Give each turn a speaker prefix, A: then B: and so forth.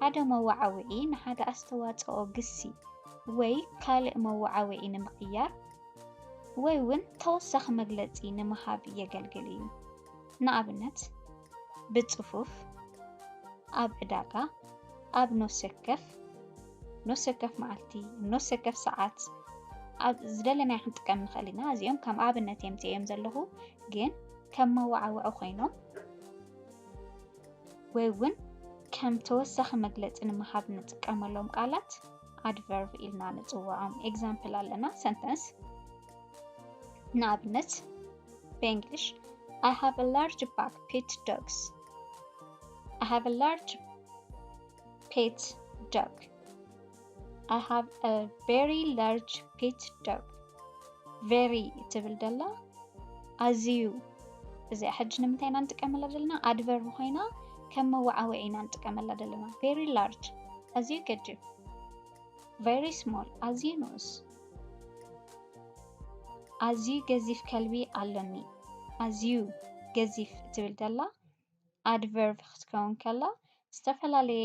A: ሓደ መወዓውዒ ንሓደ ኣስተዋጽኦ ግሲ ወይ ካልእ መወዓውዒ ንምቕያር ወይ ውን ተወሳኺ መግለጺ ንምሃብ የገልግል እዩ። ንኣብነት፣ ብጽፉፍ፣ ኣብ ዕዳጋ፣ ኣብ ኖሰከፍ፣ ኖሰከፍ መዓልቲ፣ ኖሰከፍ ሰዓት፣ ኣብ ዝደለናዮ ክንጥቀም ንኽእል ኢና። እዚኦም ከም ኣብነት የምጽኤዮም ዘለኹ ግን ከም መወዓውዒ ኮይኖም ወይ እውን ከም ተወሳኺ መግለፂ ንምሃብ ንጥቀመሎም ቃላት ኣድቨርብ ኢልና ንፅውዖም። ኤግዛምፕል ኣለና ሰንተንስ ንኣብነት ብእንግሊሽ I have a large pack pet dogs. I have a large pet dog. I have a very large pet dog very ትብል ደላ ኣዝዩ እዚኣ ሕጂ ንምንታይ ኢና ንጥቀመላ ዘለና ኣድቨር ኮይና ከም መወዓውዒ ኢና ንጥቀመላ ዘለና very large ኣዝዩ ገጅብ very small ኣዝዩ ንኡስ ኣዝዩ ገዚፍ ከልቢ ኣሎኒ ኣዝዩ ገዚፍ ትብል ደላ ኣድቨርብ ክትከውን ከላ ዝተፈላለየ